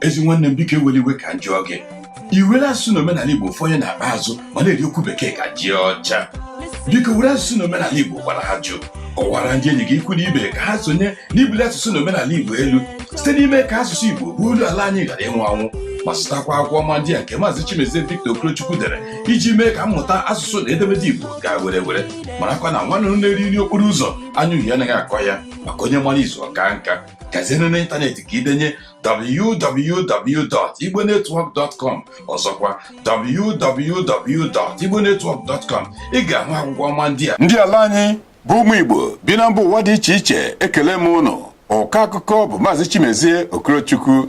ezi nwanne m biko ewele iwe ka m jụọ gị i were asụsụ na omenala igbo fọnye n'akpa azụ ma na-eri okwu bekee ka ji ọcha biko were asụsụ na omenala igbo gwara ajụ kọwara ndị enyi gị ikwu na ibe ka ha sonye n'ibuli asụsụ na omenala igbo elu site n'ime ka asụsụ igbo bụ olu ala anyị ghara ịnwụ anwụ ma zụtakwa akwụkwọ ọma ndị a nke maazị chimezie victor okorochukwu dere iji mee ka mmụta asụsụ na edemede igbo gaa were were marakwa na nwa nnụnụ na-eri nri okporo ụzọ anya uhie anaghị akọ ya maka onye mara izu ọ kaa nka gazienụ n'ịntanetị ka i denye www.igbonetwork.com ọzọkwa www.igbonetwork.com ị ga-ahụ akwụkwọ ọma ndị a ndị ala anyị bụ ụmụ Igbo bi na mba ụwa dị iche iche ekele m ụnụ ọkọ akụkọ bụ maazị Chimezie Okorochukwu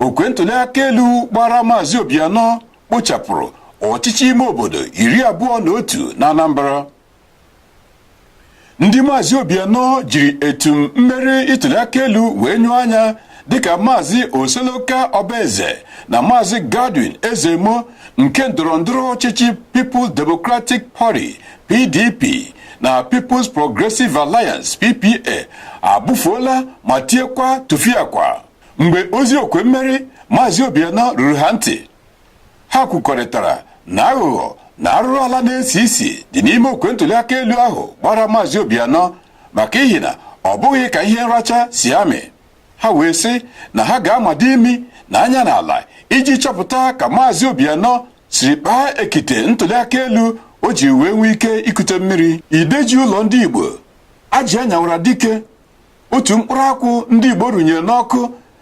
okwe ntụliaka elu gbara maazị Obianọ kpochapụrụ ọchịchị ime obodo iri abụọ na otu na Anambra ndị maazị Obianọ jiri etum mmeri ntụliaka elu wee nyụọ anya dịka maazị Oseloka Obaze na maazị Godwin Ezeemo nke ndọrọ ndọrọ ọchịchị People's Democratic Party PDP na People's Progressive Alliance PPA abụfuola ma tiekwa tụfiakwa mgbe ozi okwe mmeri maazị Obianọ ruru ha ntị ha kwukọrịtara na aghụghọ na arụrụ ala na-esi isi dị n'ime okwe ntụliaka elu ahụ gbara maazị Obianọ maka ihi na ọ bụghị ka ihe nracha si amị ha wee sị na ha ga-amado imi na anya n'ala iji chọpụta ka maazị Obianọ siri kpaa ekite ntụliaka elu o ji wee nwee ike ikute mmiri ide ji ụlọ ndị Igbo ajị a nyawara dike otu mkpụrụ akwụ ndị Igbo rụnyere n'ọkụ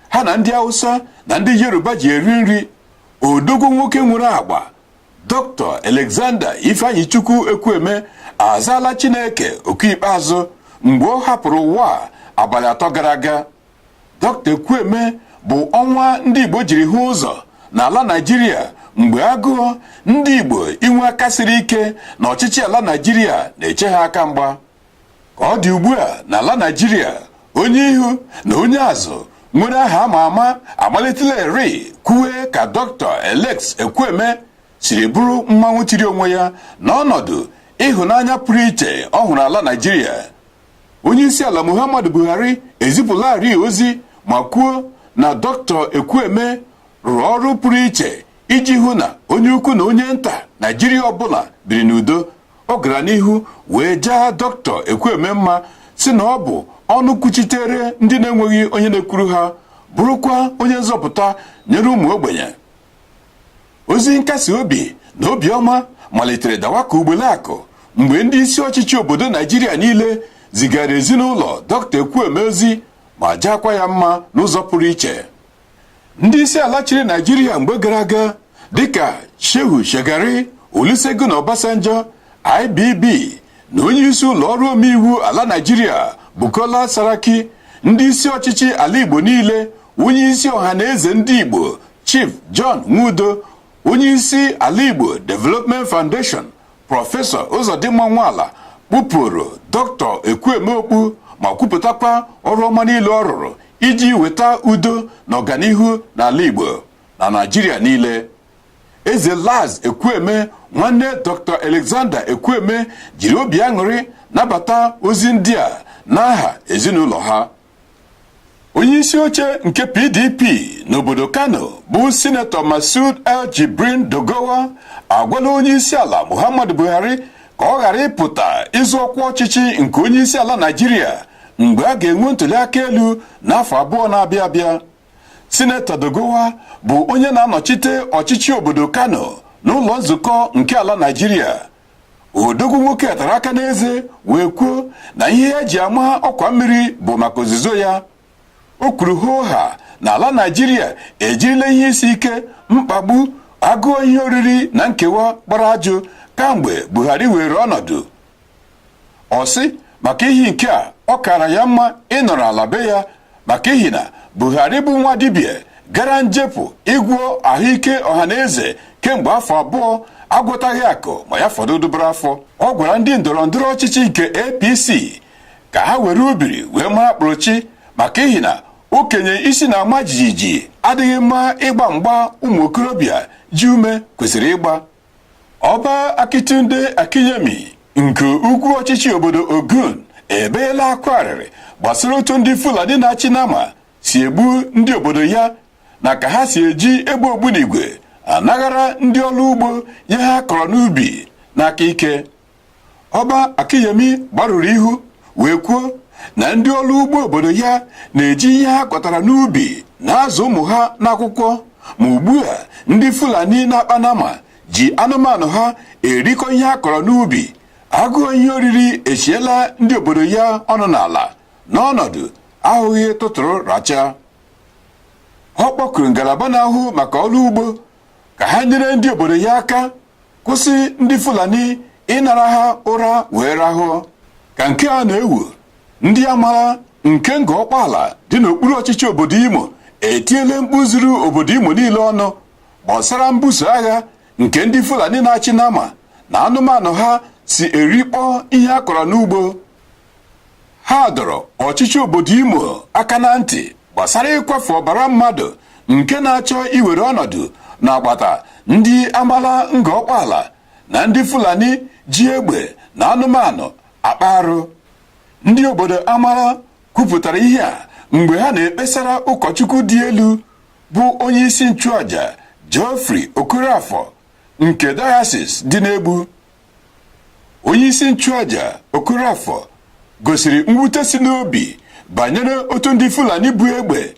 ha na ndị Hausa na ndị Yoruba ji eri nri odogwu nwoke nwere agba Dr. Alexander Ifeanyichukwu Ekwueme azaala Chineke oku ikpeazụ mgbe ọ hapụrụ ụwa abalị atọ gara aga Dr. Ekwueme bụ ọnwa ndị Igbo jiri hụ ụzọ n'ala Naịjirịa mgbe agụọ ndị Igbo inwe aka siri ike na ọchịchị ala Naịjirịa na-eche ha aka mgba ka ọ dị ugbu a n'ala Naịjirịa onye ihu na onye azụ nwere aha ama ama amalitelarị kwuwe ka Dr. Alex Ekwueme siri bụrụ mmanwụ tiri onwe ya n'ọnọdụ ịhụnanya pụrụ iche ọ hụrụ ala Naịjirịa onye isi ala Muhammadu Buhari ezipụlarị ozi ma kwuo na Dr. Ekwueme rụrụ ọrụ pụrụ iche iji hụ na onye ukwu na onye nta Naịjirịa ọbụla biri n'udo ọ gara n'ihu wee jaa Dr. ekwueme mma sị na ọ bụ ọnụ kwuchitere ndị na-enweghị onye na-ekwuru ha bụrụkwa onye nzọpụta nyere ụmụ ogbenye ozi nkasi obi na obiọma malitere dawa ka ugbele akụ mgbe ndị isi ọchịchị obodo naịjirịa niile zigara ezinụlọ Dr. ekwueme ozi ma jaakwa ya mma n'ụzọ pụrụ iche ndị isi ala chịrị naijiria mgbe gara aga dịka shehu shagari olusegun obasanjo ibb na onye isi ụlọ ọrụ omeiwu ala naijiria bukola saraki ndị isi ọchịchị ala igbo niile onye isi ọha na eze ndị igbo chief john nwodo onye isi ala igbo development foundation prọfesọ ụzọdịmma nwala kpụpụrụ dọkịta ekwueme okpu ma kwupụtakwa ọrụ ọma niile ọ rụrụ iji weta udo na ọganihu n'ala igbo na naijiria niile eze laz ekwueme nwanne dọkịta alexander ekwueme jiri obi aṅụrị nabata ozi ndị a n'aha ezinụlọ ha onye isi oche nke pdp n'obodo kano bụ sinetọ masud el jibrin doguwa agwala onye isi ala muhammadu buhari ka ọ ghara ịpụta ịzọ ọkwa ọchịchị nke onye isi ala naijiria mgbe a ga-enwe ntụliaka elu n'afọ abụọ na-abịa abịa sinetọ doguwa bụ onye na-anọchite ọchịchị obodo kano n'ụlọ nzukọ nke ala naijiria odogwu nwoke a tara aka n'eze wee kwuo na ihe ya ji ama ọkwa mmiri bụ maka ozuzo ya o kwuru hoo ha na ala naijiria ejirila ihe isi ike mkpagbu agụụ ihe oriri na nkewa gbara ajụ kamgbe buhari weere ọnọdụ ọ sị maka ihi nke a ọ kaara ya mma ịnọrọ ala be ya maka ihi na Buhari bụ nwa dibịa gara njepụ ịgwọ ahụike ọhaneze kemgbe afọ abụọ agwọtaghị akụm ma ya fọdụ dụbara afọ ọ gwara ndị ndọrọ ndọrọ ọchịchị nke APC ka ha were ubiri wee mara kpụrụchi maka ihi na okenye isi na-ama jijiji adịghị mma ịgba mgba ụmụ okorobịa ji ume kwesịrị ịgba ọba Akintunde Akinyemi nke ugwu ọchịchị obodo Ogun ebeela akwa arịrị gbasara otu ndị Fulani na-achị nama si egbu ndị obodo ya na ka ha si eji egbe ogbunigwe anaghara ndị ọrụ ugbo ihe ha kọrọ n'ubi n'aka ike Ọba Akinyemi gbarụrụ ihu wee kwuo na ndị ọrụ ugbo obodo ya na-eji ihe ha kọtara n'ubi na-azụ ụmụ ha n'akwụkwọ ma ugbu a ndị Fulani na-akpa nama ji anụmanụ ha erikọ ihe ha kọrọ n'ubi agụụ ihe oriri echiela ndị obodo ya ọnụ n'ala n'ọnọdụ ahụghị tụtụrụ racha ọ kpọkuru ngalaba na-ahụ maka ọrụ ugbo ka ha nyere ndị obodo ya aka kwụsị ndị Fulani ịnara ha ụra wee rahụọ ka nke a na-ewu ndị Amala nke Ngọ Ọkpaala dị n'okpuru ọchịchị obodo Imo etiele mkpu zuru obodo Imo niile ọnụ gbasara mbuso agha nke ndị Fulani na-achị nama na anụmanụ ha si erikpọ ihe a kọrọ n'ugbo ha dọrọ ọchịchị obodo Imo aka na ntị gbasara ịkwafu ọbara mmadụ nke na-achọ iwere ọnọdụ n'agbata ndị amala Ngor Okpala na ndị Fulani ji egbe na anụmanụ akpa arụ ndị obodo amala kwupụtara ihe a mgbe ha na-ekpesara ụkọchukwu dị elu bụ onye isi nchụaja Geoffrey Okorafor nke diocese dị n'Egbu onye isi nchụaja Okorafor gosiri mwute si n'obi banyere otu ndị Fulani bu egbe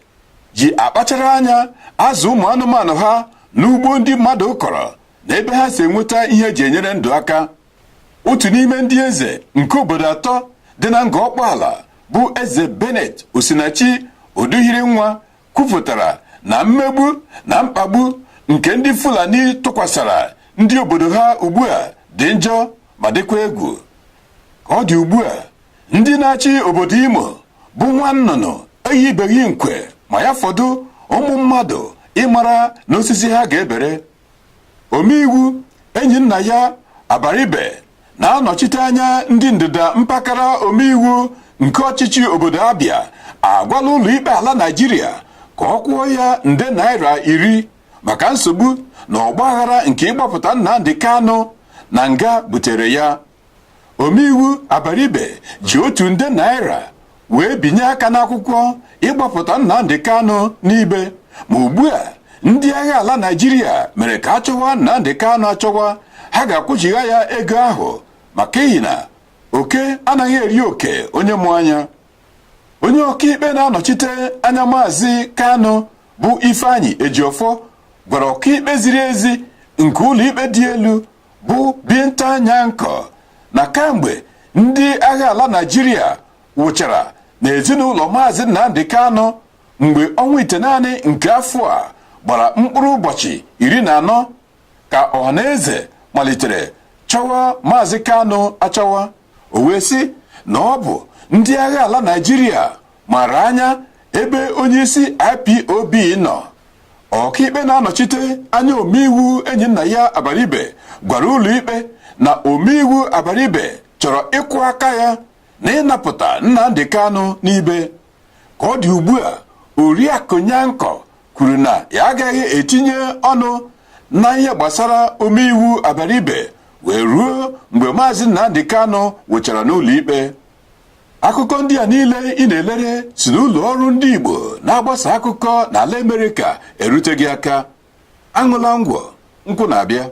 ji akpachara anya azụ ụmụ anụmanụ ha n'ugbo ndị mmadụ kọrọ na ebe ha si enweta ihe e ji enyere ndụ aka otu n'ime ndị eze nke obodo atọ dị na Ngor Okpala bụ eze Bennett Osinachi Uduhirinwa kwupụtara na mmegbu na mkpagbu nke ndị Fulani tụkwasara ndị obodo ha ugbu a dị njọ ma dịkwa egwu ka ọ dị ugbu a ndị na-achị obodo Imo bụ nwa nnụnụ eyibeghị nkwe ma ya fọdụ ụmụ mmadụ ịmara n'osisi ha ga-ebere omeiwu Enyinnaya Abaribe na-anọchite anya ndị ndịda mpaghara omeiwu nke ọchịchị obodo Abia agwala ụlọikpe ala Naịjirịa ka ọ kwụọ ya nde naira iri maka nsogbu na ọgbaghara nke ịgbapụta Nnamdi Kanu na nga butere ya omeiwu Abaribe ji otu nde naira wee binye aka n'akwụkwọ ịgbapụta Nnamdi Kanu n'ibe ma ugbu a ndị agha ala Naịjirịa mere ka a chọwa Nnamdi Kanu achọwa ha ga-akwụchigha ya ego ahụ maka ihi na oke anaghị eri oke onye mụ anya onye ọkaikpe na-anọchite anya maazị Kanu bụ Ifeanyi Ejiofor gwara ọkaikpe ziri ezi nke ụlọikpe dị elu bụ Binta Nyako na kamgbe ndị agha ala Naịjirịa wụchara n'ezinụlọ maazị Nnamdi Kanu mgbe ọnwa itenaanị nke afọ a gbara mkpụrụ ụbọchị iri na anọ ka ọhaneze malitere chọwa maazị Kanu achọwa o wee sị na ọ bụ ndị agha ala Naịjirịa mara anya ebe onyeisi IPOB nọ ọkaikpe na-anọchite anya omeiwu Enyinnaya Abaribe gwara ụlọikpe na omeiwu Abaribe chọrọ ịkwọ aka ya na ịnapụta Nnamdi Kanu n'ibe ka ọ dị ugbu a oriakụ Nyako kwuru na ya agaghị etinye ọnụ na ihe gbasara omeiwu Abaribe wee ruo mgbe maazị Nnamdi Kanu wụchara n'ụlọikpe akụkọ ndị a niile ị na-elere si n'ụlọ ọrụ ndị Igbo na-agbasa akụkọ n'ala Amerịka erute gị aka aṅụla ngwọ nkwụ na-abịa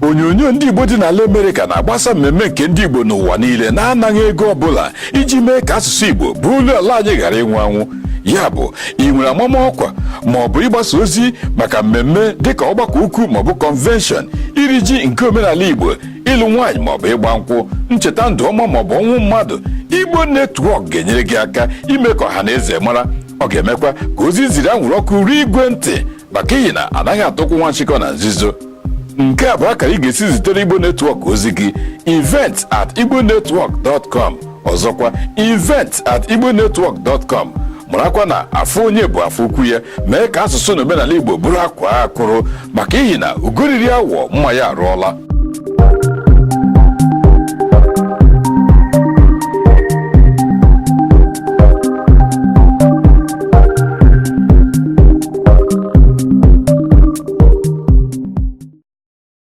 onyonyo ndị Igbo dị n'ala Amerịka na-agbasa mmemme nke ndị Igbo n'ụwa niile na-anaghị ego ọbụla iji mee ka asụsụ Igbo bụ olu ala anyị ghara ịnwụ anwụ ya bụ ị nwere amama ọkwa ma ọ bụ ịgbasa ozi maka mmemme dịka ọgbakọ ukwu maọbụ kọnvenshọn iri ji nke omenala Igbo ịlụ nwaanyị maọbụ ịgba nkwụ ncheta ndụ ọma maọbụ ọnwụ mmadụ igbo netwọk ga-enyere gị aka ime ka ọha na eze mara ọ ga-emekwa ka ozi i ziri anwụrụ ọkụ ruo igwe ntị maka ihi na anaghị ata ụkwụ nwa nchịkọ na nzuzo nke a bụ akara ị ga-esi zitere igbo netwọk ozi gị event at igbo netwọk dọtkọm ọzọkwa event at igbonetwork.com marakwa na afọ onye bụ afọ ukwu ya mee ka asụsụ na omenala igbo bụrụ akwaa akwụrụ maka ihi na ugo riri awọ mma ya arụọla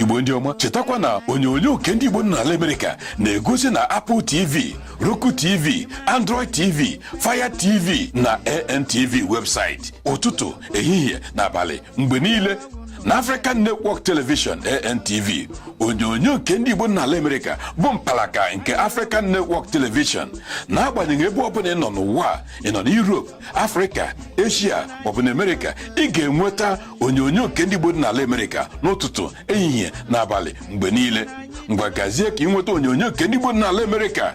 igbo ndị ọma chetakwa na onyonyo nke ndị igbo dị n'ala Amerịka na-egosi na Apple TV Roku TV Android TV Fire TV na ANTV webụsaịtị ụtụtụ ehihie na abalị mgbe niile na African Network Television ANTV onyonyo nke ndị Igbo dị n'ala Amerịka bụ mpalaka nke African Network Television n'agbanyeghị ebe ọ bụla ị nọ n'ụwa ị nọ na Europe Africa Asia maọbụ na Amerịka ị ga-enweta onyonyo nke ndị Igbo dị n'ala Amerịka n'ụtụtụ ehihie na abalị mgbe niile ngwa gazie ka ị nweta onyonyo nke ndị Igbo dị n'ala Amerịka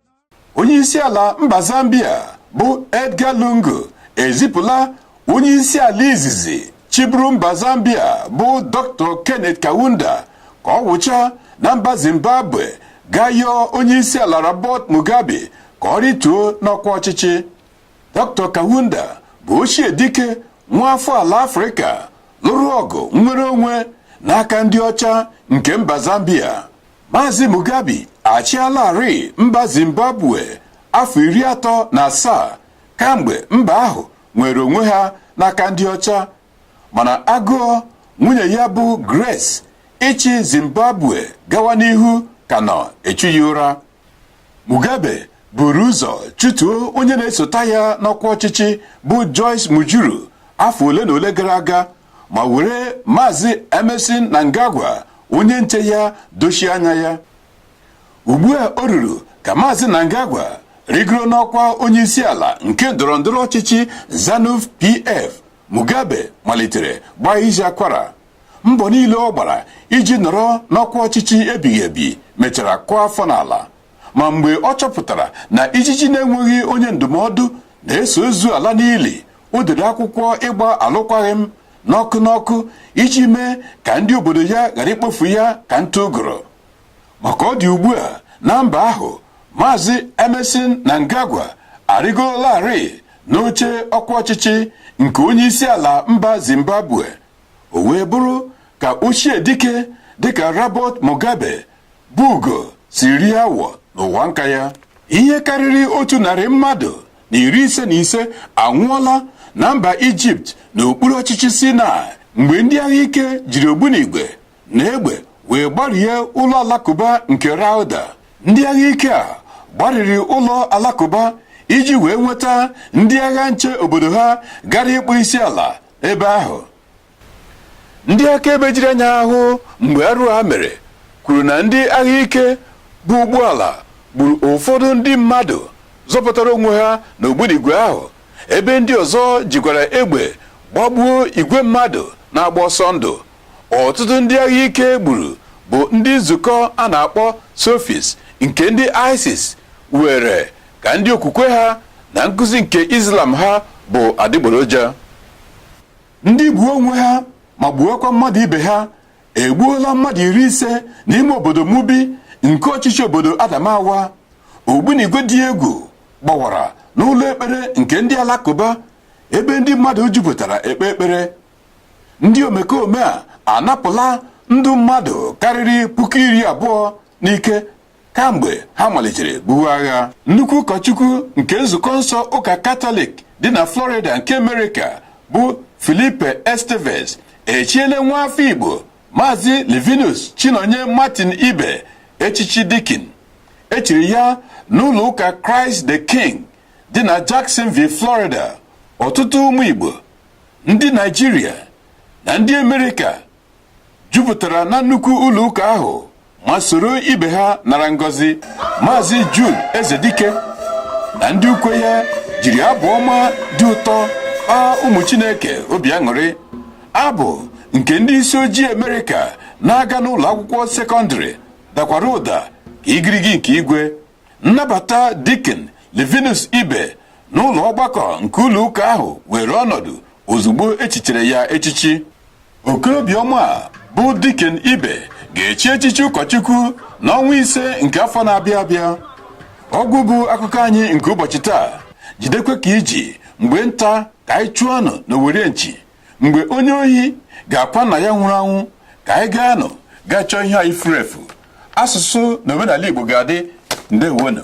onye isi ala mba zambia bụ edgar lungu ezipụla onye isi ala izizi chịburu mba zambia bụ dr kenneth kaunda ka ọ wụcha na mba zimbabwe gaa yọọ onye isi ala robert mugabe ka ọ rituo n'ọkwa ọchịchị dr kaunda bụ ochie dike nwa afọ ala afrịka lụrụ ọgụ nnwere onwe n'aka ndị ọcha nke mba zambia Maazị Mugabe achịalarị mba Zimbabwe afọ iri atọ na asaa kamgbe mba ahụ nwere onwe ha n'aka ndị ọcha mana agụọ nwunye ya bụ Grace ịchị Zimbabwe gawa n'ihu ka nọ echu ya ụra Mugabe buru ụzọ chụtuo onye na-esota ya n'ọkwa ọchịchị bụ Joyce Mujuru afọ ole na ole gara aga ma were maazị Emmerson Mnangagwa onye nche ya dochie anya ya ugbu a o ruru ka maazị Mnangagwa rigoro n'ọkwa onye isi ala nke ndọrọ ndọrọ ọchịchị Zanu PF Mugabe malitere gbaa isi akwara mbọ niile ọ gbara iji nọrọ n'ọkwa ọchịchị ebighị ebi mechara kụọ afọ n'ala ma mgbe ọ chọpụtara na ijiji na-enweghị onye ndụmọdụ na-eso ozu ala n'ili o dere akwụkwọ ịgba alụkwaghị m n'ọkụ n'ọkụ iji mee ka ndị obodo ya ghara ikpofu ya ka ntụ ụgụrụ ma ka ọ dị ugbu a na mba ahụ maazị Emmerson Mnangagwa arịgorolarị n'oche ọkwa ọchịchị nke onye isi ala mba Zimbabwe o wee bụrụ ka ochie dike dịka Robert Mugabe bụ ugo si rie awọ n'ụwa nka ya ihe karịrị otu narị mmadụ na iri ise na ise anwụọla na mba ijipt n'okpuru ọchịchị sinai mgbe ndị agha ike jiri ogbunigwe na egbe wee gbarie ụlọ alakụba nke rawda ndị agha ike a gbariri ụlọ alakụba iji wee nweta ndị agha nche obodo ha gara ịkpọ isi ala ebe ahụ ndị akaebe jiri anya ha hụ mgbe arụ a mere kwuru na ndị agha ike bu ụgbọala gburu ụfọdụ ndị mmadụ zọpụtara onwe ha n'ogbunigwe ahụ ebe ndị ọzọ jikwara egbe gbagbuo igwe mmadụ na-agba ọsọ ndụ ọtụtụ ndị agha ike gburu bụ ndị nzukọ a na-akpọ sufis nke ndị isis were ka ndị okwukwe ha na nkụzi nke islam ha bụ adịgboroja ndị gbuo onwe ha ma gbuokwa mmadụ ibe ha egbuola mmadụ iri ise n'ime obodo Mubi nke ọchịchị obodo Adamawa ogbunigwe dị egwu gbawara n'ụlọ ekpere nke ndị alakụba ebe ndị mmadụ jupụtara ekpe ekpere ndị omekome a anapụla ndụ mmadụ karịrị puku iri abụọ n'ike kamgbe ha malitere buwe agha nnukwu ụkọchukwu nke nzukọ nsọ ụka katọlik dị na florida nke amerịka bụ felipe estevez echiele nwa afọ igbo maazị livinus chinonye martin ibeh echichi dikin e chiri ya n'ụlọ ụka christ the king dị na jacksonville florida ọtụtụ ụmụ igbo ndị naịjirịa na ndị amerịka jupụtara na nnukwu ụlọ ụka ahụ ma soro ibe ha nara ngọzi maazị Jude Ezedike na ndị ukwe ya jiri abụ ọma dị ụtọ kpaa ụmụ Chineke obi aṅụrị abụ nke ndị isi ojii Amerịka na-aga n'ụlọ akwụkwọ sekọndịrị dakwara ụda ka igirigi nke igwe nnabata Dikin Livinus Ibe n'ụlọ ọgbakọ nke ụlọ ụka ahụ weere ọnọdụ ozugbo echichere ya echichi okorobịa ọma a bụ Dikin Ibe ga-echi echichi ụkọchukwu n'ọnwa ise nke afọ na-abịa abịa ọgwụ bụ akụkọ anyị nke ụbọchị taa jidekwa ka iji mgbe nta ka anyị chụọ nụ n'owere nchi mgbe onye ohi ga-akwa nna ya nwụrụ anwụ ka anyị gaa nụ gaa chọọ ihe anyị furu efu asụsụ na omenala Igbo ga-adị ndewonu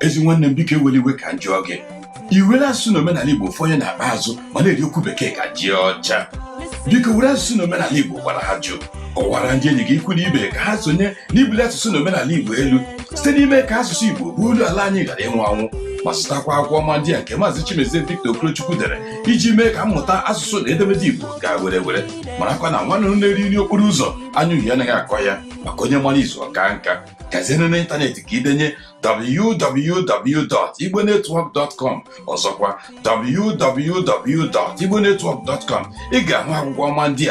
ezi nwanne m biko ewela iwe ka m jụọ gị iwere asụsụ na omenala igbo fọnye n'akpa azụ ma na-eri okwu bekee ka ji ọcha biko were asụsụ na omenala igbo gwara ajụ kọwara ndị enyi gị ikwu na ibe ka ha sonye n'ibuli asụsụ na omenala igbo elu site n'ime ka asụsụ igbo bụ olu ala anyị ghara ịnwụ anwụ ma zụtakwa akwụkwọ ọma ndị a nke maazị chimezie victor okorochukwu dere iji mee ka mmụta asụsụ na edemede igbo gaa were were marakwa na nwanne na-eri nri okporo ụzọ anya uhie anaghị akọ ya maka onye mara izu ọ kaa nka gazie n'ịntanetị ka idenye www.igbonetwork.com ọzọkwa www.igbonetwork.com ị ga-ahụ akwụkwọ ọma ndị a